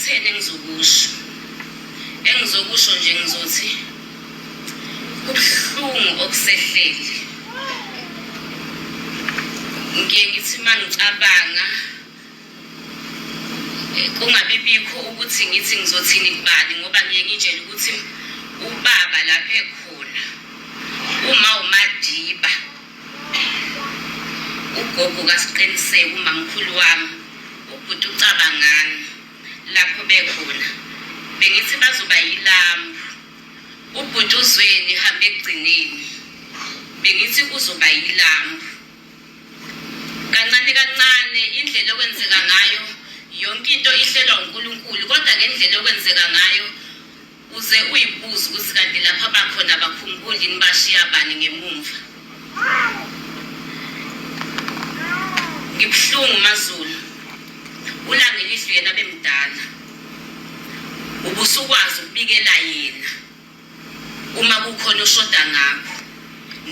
kutheni engizokusho engizokusho nje ngizothi kubuhlungu okusehleli ngiye ngithi uma ngicabanga eh, kungabi bikho ukuthi ngithi ngizothini kubani ngoba ngiye ngitshele ukuthi ubaba lapha ekhona uma umadiba Ugogo kaSqiniseko umamkhulu wami ubhuti ucabangani lapho bekhona bengithi bazoba yilambu ubhuti uzweni hambe ekugcineni bengithi uzoba yilambu kancane kancane indlela okwenzeka ngayo yonke into ihlelwa uNkulunkulu kodwa ngendlela okwenzeka ngayo Uze uyibuze ukuthi kanti lapho abakhona abakhumbuli yini bashiya bani ngemumva. Ngibuhlungu maZulu. Ulangelizwi yena bemdala. Ubusukwazi ukubikela yena uma kukhona oshoda ngakho.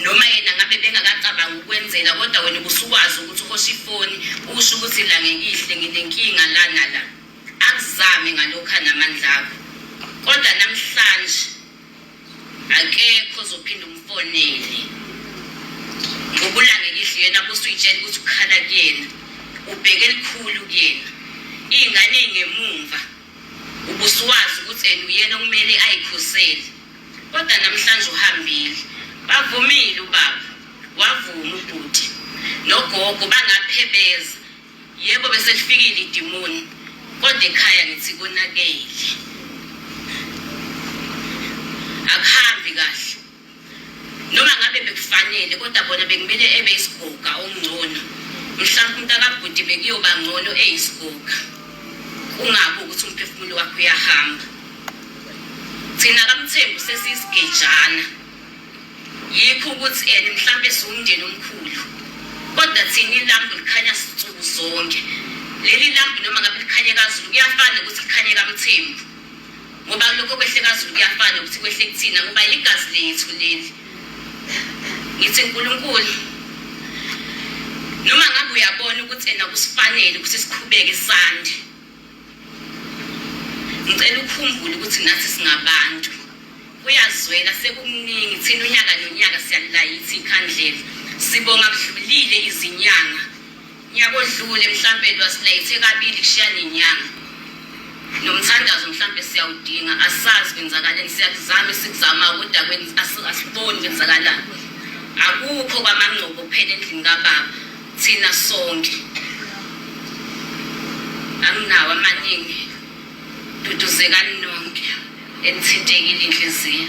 Noma yena ngabe bengakacabanga ukwenzela kodwa wena ubusukwazi ukuthi uhosha ifoni usho ukuthi la ngekihle nginenkinga lana la. Akuzame ngalokhu anamandla akho. Kodwa namhlanje akekho ozophinda umfonele. Ngokulangela idlu yena kusuyitshela ukuthi ukhala kuyena. Ubheke elikhulu kuyena. Iy'ngane ey'ngemumva ubusuwazi ukuthi and uyena okumele ayikhosele kodwa namhlanje uhambile bavumile ubaba wavuma ubhuti nogogo bangaphebeza Yebo bese lifikile idimoni kodwa ekhaya ngithi konakele. Akuhambi kahle. Noma ngabe bekufanele kodwa bona bekumele ebe isigoga ongcono. Mhlawumbe umuntu akabhuti bekuyoba ngcono eyisigoga. Kungabi ukuthi umphefumulo wakhe uyahamba. Thina kamthembu sesiyisigejana. yikho ukuthi and mhlambe siwumndeni omkhulu kodwa thina ilambu likhanya sinsuku zonke leli lambu noma ngabe likhanye kazulu kuyafana ukuthi likhanye kamthembu ngoba lokho kwehle kazulu kuyafana ukuthi kwehle kuthina ngoba yigazi lethu leli ngithi nkulunkulu noma ngabe uyabona ukuthi ena kusifanele ukuthi siqhubeke sande ngicela ukhumbule ukuthi nathi singabantu kuyazwela sekukuningi thina unyaka nonyaka siyalilayithi ikhandlela sibonga kudlulile izinyanga nyaka odlule mhlampe lwasilayithe kabili kushiya nenyanga nomthandazo mhlampe siyawudinga asazi kwenzakaleni siyakuzama esikuzamayo kodwa asiboni kwenzakalani akukho kwamangcobo kuphela endlini kababa Thina sonke. Anginawo amaningi. Duduzekani nonke enithintekile inhliziyo.